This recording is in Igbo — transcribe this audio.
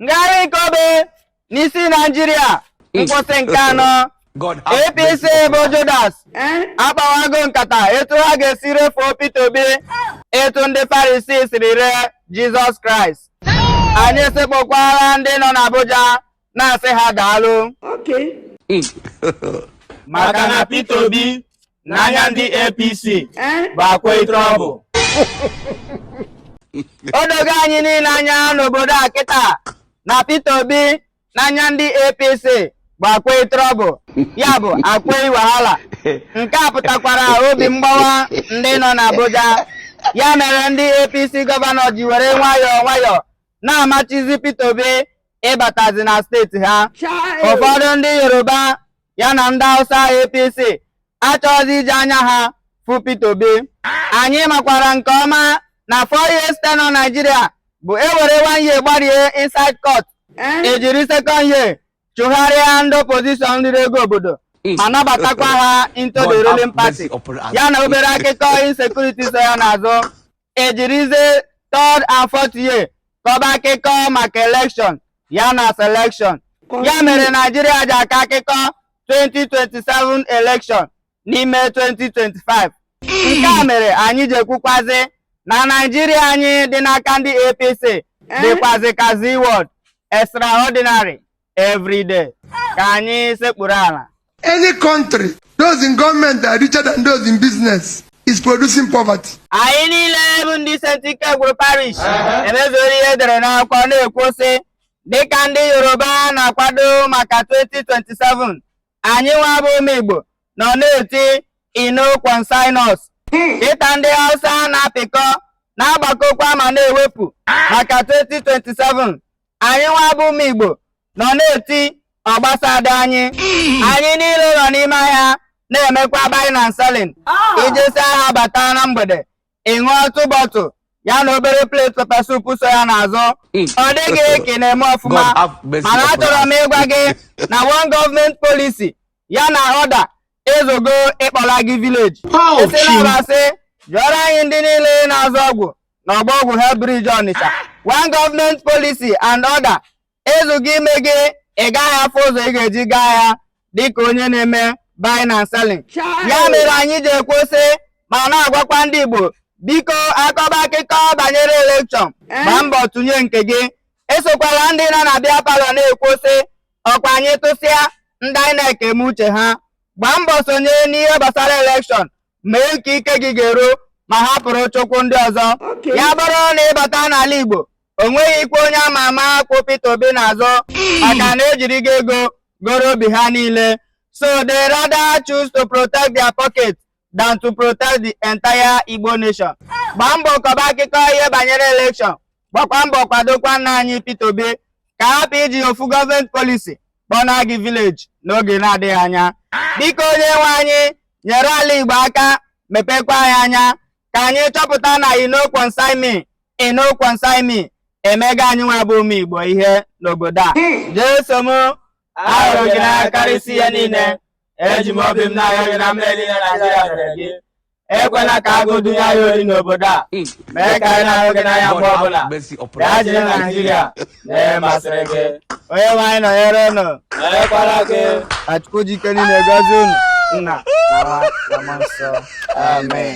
ngagharị nke obe n'isi naijiria nkwụsị nke anọ apc bụ judas akpawago nkata etu ha ga-esi refuo peter obi etu ndị farisi siri ree jizọs kraịst anyị sekpukwara ndị nọ n'abuja na-asị ha daalụ maka na peter obi n'anya ndị APC bụ akwai trọbụl o dogo anyị niile anya n'obodo a kịta na Peter Obi n'anya ndị APC bụ akwai trọbụl ya bụ akwai wahala nke a pụtakwara obi mgbawa ndị nọ n'Abuja ya mere ndị APC gọvanọ ji were nwayọọ nwayọọ na-amachizi Peter Obi ịbatazi na steeti ha ụfọdụ ndị Yoruba ya na ndị Hausa APC achọghịzi iji anya ha fụ Peter Obi anyị makwara nke ọma na four years tenure Nigeria bụ e were one year gbarie inside court e jiri second year chụgharịa ndị opposition riri ego obodo ma nabatakwa ha into the ruling party ya na obere akụkọ insecurity so ya n'azụ e jirizie third and fourth year kọba akụkọ maka elekshọn ya na selekshọn ya mere naijiria ji akọ akụkọ 2027 elekshọn n'ime 2025 nke a mere anyị ji ekwukwazi na naijiria anyị dị n'aka ndị apc dịkwazi ka Zee World extraordinary every day ka anyị sekpuru ala Any country, those in government are richer than those in business, is producing poverty. anyị niile bụ ndị St. Ikegwụrụ parish emezuola ihe e dere n'akwụkwọ na-ekwu sị dịka ndị Yoruba na-akwado maka 2027 anyị nwa bụ ụmụ Igbo nọ na-eti e no concern us dịka ndị Hausa na-apịkọ na-agbakọkwa ma na-ewepụ maka 2027 anyị nwa bụ ụmụ Igbo nọ na-eti ọ gbasadịghị anyị anyị niile nọ n'ime ahịa na-emekwa buying and selling ị jesịa ahịa bata na mgbede ị ṅụọ otu bọtụ ya na obere plate pepper soup so ya n'azụ ọ dị gị ka ị na-eme ọfụma God have mercy mana upon achọrọ m ịgwa gị na one government policy ya na ọda ezugo ịkpọla gị village ị sị na ọ bụ asị jụọrọ anyị ndị niile na-azụ ọgwụ n'Ọgbọ Ọgwụ Head Bridge Ọnịcha one government policy and order ezugo ime gị ị gaghị afụ ụzọ ị ga-eji gaa ahịa dịka onye na-eme buying and selling ya mere anyị ji ekwu sị ma na-agwakwa ndị Igbo biko a kọba akụkọ banyere elekshọn eh? gbaa mbọ tụnye nke gị esokwala ndị nọ na beer parlour na-ekwu sị ọkwa anyị tụsịa ndị INEC eme uche ha gbaa mbọ sonye n'ihe gbasara elekshọn mee nke ike gị ga-eru ma hapụrụ chukwu ndị ọzọ ya bụrụ na ịbata n'ala Igbo o nweghịkwa onye ama ama kwụ Peter Obi n'azụ maka na ejirigo ego goro obi ha niile so they rather choose to protect their pocket than to protect the entire Igbo nation gbaa mbọ kọba akụkọ ihe banyere election gbakwa mbọ kwadokwa nna anyị Peter Obi ka a hapụ iji ofu government policy kpọna gị village n'oge na-adịghị anya biko onye nwe anyị nyere ala Igbo aka mepekwa anyị anya ka anyị chọpụta na e no concern me e no concern me emego anyị nwa bụ ụmụ Igbo ihe n'obodo a jeso m ahụrụ gị n'anya karịsịa ihe niile eji m obi m na-arịọ gị na mmehie niile Naijiria mere gị ekwela ka agụụ dunye anyị ori n'obodo a mee ka anyị na-ahụ gị n'anya mgbe ọbụla bịa jiri naijiria mee ihe masịrị gị onye nwe anyị nọnyere unu nọnyekwara gị ka chukwu ji ike niile gọzie unu nna na nwa na mmụọ nsọ amen